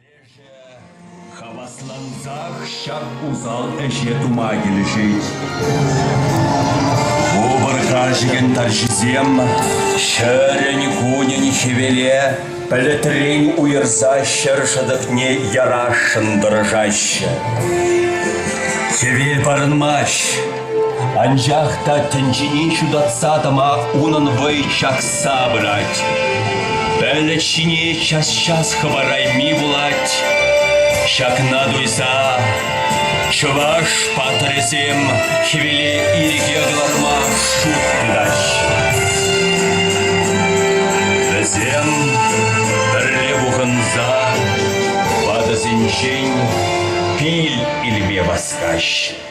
Лешӗ хаваслансах ҫак усал ӗҫе тума килӗшет. Вӑпӑрха чекен тарҫисем ҫӗрӗн-кунӗн хӗвеле пӗлӗтрен уйӑрса ҫӗр шӑтӑкне ярасшӑн тӑрӑшаҫҫӗ. Хӗвел парӑнмасть, Анчах та тӗнчене ҫутатса тӑма унӑн вӑй чакса пырать. Пӗлӗт ҫине час-час хӑварайми пулать. Ҫакна туйса чӑваш паттӑрӗсем хӗвеле ирӗке кӑларма шут тытаҫ. Вӗсем пӗрле пухӑнса ватӑсенчен пил илме васкаҫ.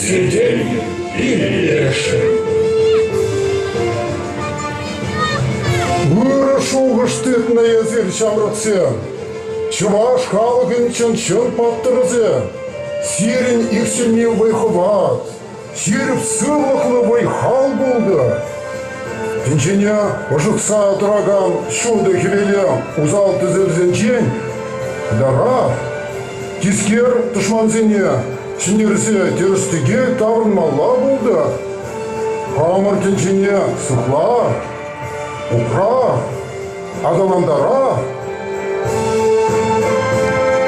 Сӗтел пиллешӗ. Ырӑ шухӑш тытнӑ эсир ҫамрӑксем. Чӑваш халӑхӗнчен чӑн паттӑрсем. Сирӗн иксӗлми вӑй-хӑват, Ҫирӗп сывлӑхлӑ вӑй-хал пултӑр. Пинчене ӑшӑтса тӑракан ҫутӑ хӗвеле усал тӗсерсенчен кӑларар, тискер тӑшмансене ҫӗнтерсе тӗрӗс-тӗкел таврӑнмалла пултӑр. Хамӑр тӗнчене сыхлар, упрар. Аталантара!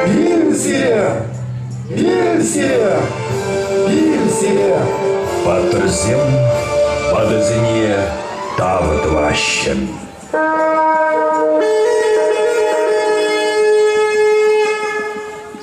Ил сире! Ил сире! Ил сире! Паттӑрсем ватӑсене тав тӑваҫҫӗ.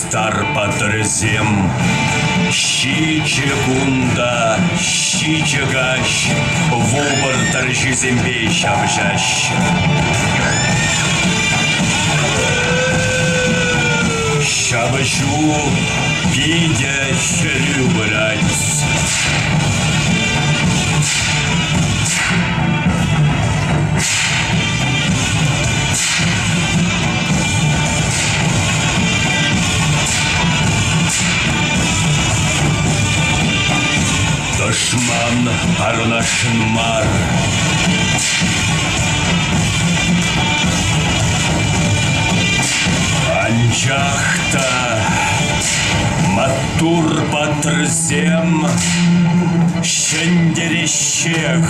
Тар паттӑрӗсем ҫичӗ кунта ҫичӗ каҫ вӑл тӑрҫисемпе ҫапӑҫаҫҫӗ. Ҫапӑҫу питӗ хӗрӳ пырать. Тӑшман парнашӑн мар. Анчах та маттур патрсем ҫӗнтереҫҫех.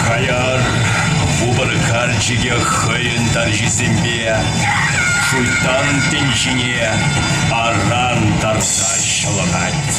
Хаяр вупӑр карчӑкӗ хӑйӗн тарҫисемпе шуйттан тӗнчине аран тарса ҫӑлӑнать.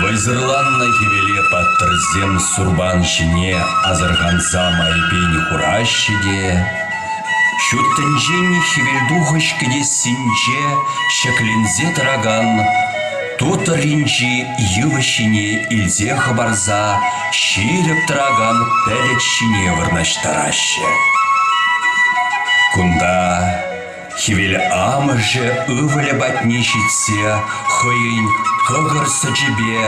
Вӑйсӑрланнӑ хӗвеле паттӑрсем сурпан ҫине асӑрханса майпен хураҫҫӗ те ҫут тӗнчен хӗвелтухӑҫ кӗтессинче ҫӗкленсе тӑракан ту тӑрринчи йывӑҫ ҫине илсе хӑпарса ҫирӗп тӑракан пӗлӗт ҫине вырнаҫтараҫҫӗ. Кунта Хӗвел амӑшӗ ывӑлӗ патне ҫитсе хӑйӗн кӑкӑр сӑчӗпе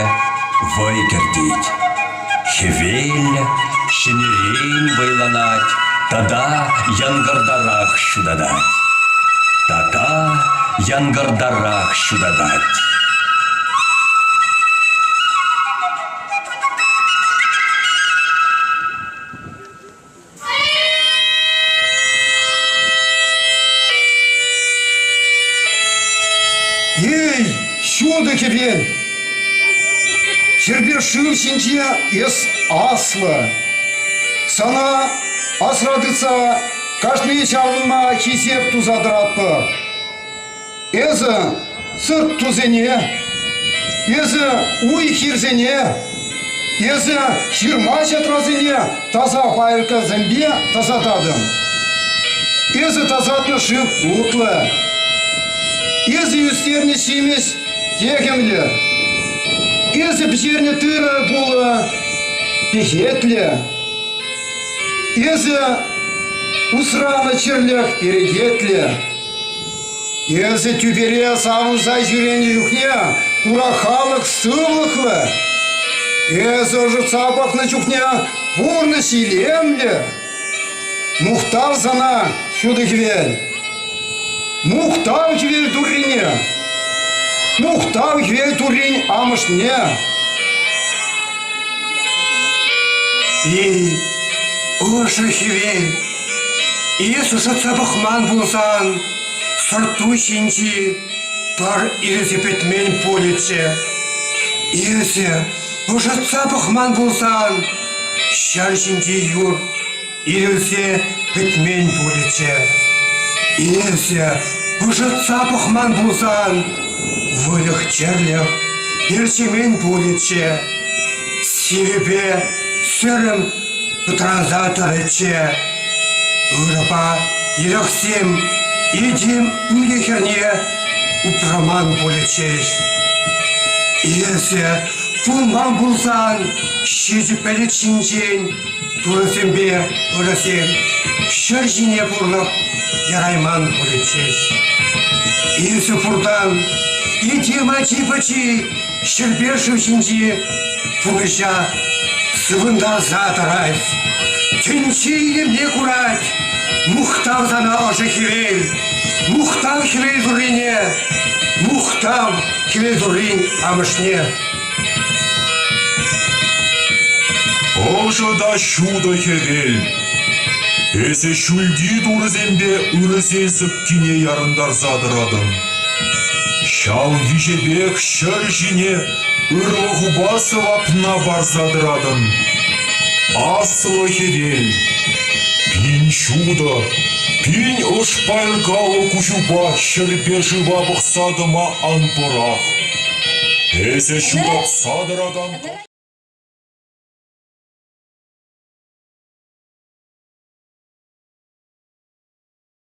вӑй кӗртет. Хӗвел ҫӗнӗрен вӑйланать тата янкӑртарах ҫутатать. Така янкӑртарах ҫутатать. Эй, ҫутӑ хӗвел! Хӗрпе шыв ҫинче эс аслӑ. Сана асра тытса кашни чарӑнма хисеп туса тӑратпӑр. Эсӗ сырт тусене, эсӗ уй-хирсене, эсӗ ҫырма-ҫатрасене таса пайӑркӑсемпе тасататӑн. Эсӗ тасатнӑ шыв утлӑ. Эсӗ ӳстернӗ ҫимӗҫ техӗмлӗ. Эсӗ пӗҫернӗ тырӑ пулӑ пехетлӗ. Эсӗ усранӑ чирлӗх перекетлӗ. Эсӗ тӳпере савӑнса ҫӳренӗ чухне хура халӑх сывлӑхлӑ. Эсӗ ӑшӑтса пӑхнӑ чухне пурнӑҫ илемлӗ. Мухтав сана, ҫутӑ хӗвел. Мухтав хӗвел туррине. Мухтав хӗвел туррин амӑшне. И ӑшӑ хӗвел Эс ӑсатса пӑхман пулсан, сӑрт-ту ҫинчи пар ирӗсе пӗтмен пулӗччӗ. Эсӗ ӑшӑтса пӑхман пулсан, ҫар ҫинчи юр ирӗлсе пӗтмен пулӗччӗ. Эсӗ ӑшӑтса пӑхман пулсан, выльӑх-чӗрлӗх ерчемен пулӗччӗ. Сивӗпе сӗрӗм пӑтранса тӑрӗччӗ. Ырӑпа ирӗксем этем икӗ хӗрне упраман пулӗччӗҫ. Эсӗ кулман пулсан, ҫичӗ пӗлӗт ҫинчен турӑсемпе ырӑсем ҫӗр ҫине пурлӑх ярайман пулӗччӗҫ. Эсӗ пуртан этем ачи-пӑчи Ҫӗрпе шыв ҫинчи пурҫа сывӑнтарса тӑрать. Тӗнче илемне курать. Мухтав сана ӑшӑ хӗвел. Мухтав хӗвел туррине. Мухтав хӗвел туррин амӑшне. Ӑшӑ та ҫутӑ хӗвел. Эсӗ ҫӳлти турӑсемпе ырӑсен сыпкине ярӑнтарса тӑратӑн. Ҫав виҫепех ҫӗр ҫине ырлӑхупа сӑвапна парса тӑратӑн. Аслӑ хӗвел, пин ҫутӑ, пин ӑшпайӑркаллӑ куҫупа ҫӗрпе шыва пӑхса тӑма ан пӑрах. Эсӗ ҫуратса тӑракан